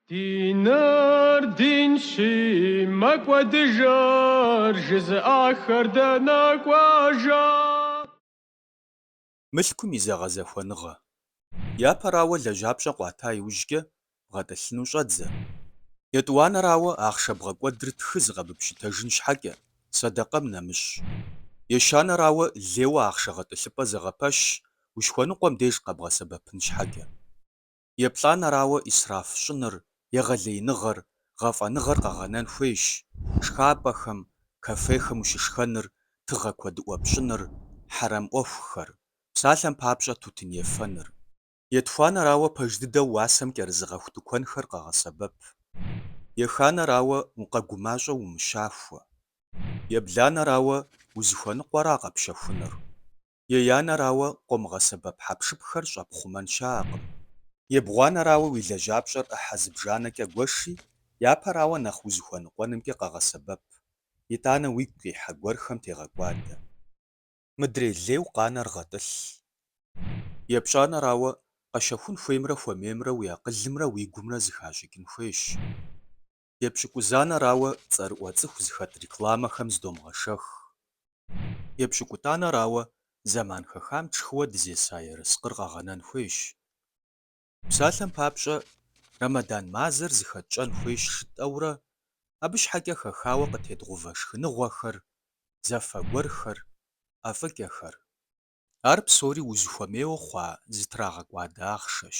Диныр динщи, мэкӏуэдыжыр жызыӏахэр дэнэ кӏуэжа? Мылъкум и зэгъэзэхуэныгъэ. Япэрауэ лэжьапщӏэ къуата иужькӏэ бгъэтӏылъыну щӏэдзэ. Етӏуанэрауэ, ахъшэ бгъэкӏуэдыр тхы зыкъэбыпщытэжын щхьэкӏэ, сэдэкъэм нэмыщӏ. Ещанэрауэ, лейуэ ахъшэ гъэтӏылъыпӏэ зэгъэпэщ, ущыхуэныкъуэм деж къэбгъэсэбэпын щхьэкӏэ. еплӏанэрауэ исраф щӏыныр, егъэлеиныгъэр, гъэфӏэныгъэр къэгъэнэн хуейщ, шхапӏэхэм, кафехэм ущышхэныр, тыгъэ куэдыӏуэ пщӏыныр, хьэрэм ӏуэхухэр, псалъэм папщӏэ тутын ефэныр. Етхуанэрауэ пэж дыдэу уасэм кӏэрызыгъэху тыкуэнхэр къэгъэсэбэп. Еханэрауэ укъэгумащӏэу умыщахуэ. Ебланэрауэ узыхуэныкъуэра къэпщэхунур? Еянэрауэ къомыгъэсэбэп хьэпшыпхэр щӏэпхъумэн щыӏэкъым. Ебгъуанэрауэ уи лэжьапщӏэр ӏыхьэ зыбжанэкӏэ гуэши, япэрауэ нэхъ узыхуэныкъуэнымкӏэ къэгъэсэбэп, итӏанэ уигу къихьэ гуэрхэм тегъэкӏуадэ. Мыдрей лейуэ къанэр гъэтӏылъ. Епщӏанэрауэ, къэщэхун хуеймрэ хуэмеймрэ уи акъылымрэ уи гумрэ зыхащӏыкӏын хуейщ. Епщыкӏузанэрауэ цӏэрыӏуэ цӏыху зыхэт рекламэхэм зыдомыгъэшэх. Епщыкӏутӏанэрауэ зэман хэхам тшхыуэ дызеса ерыскъыр къэгъэнэн хуейщ. Псалъэм папщӏэ, Рэмэдан мазэр зыхэтщӏэн хуейщ жытӏэурэ, абы щхьэкӏэ хэхауэ къытедгъувэ шхыныгъуэхэр, зэфэ гуэрхэр, ӏэфӏыкӏэхэр. Ар псори узыхуэмейуэ хъуа зытрагъэкӏуадэ ахъшэщ.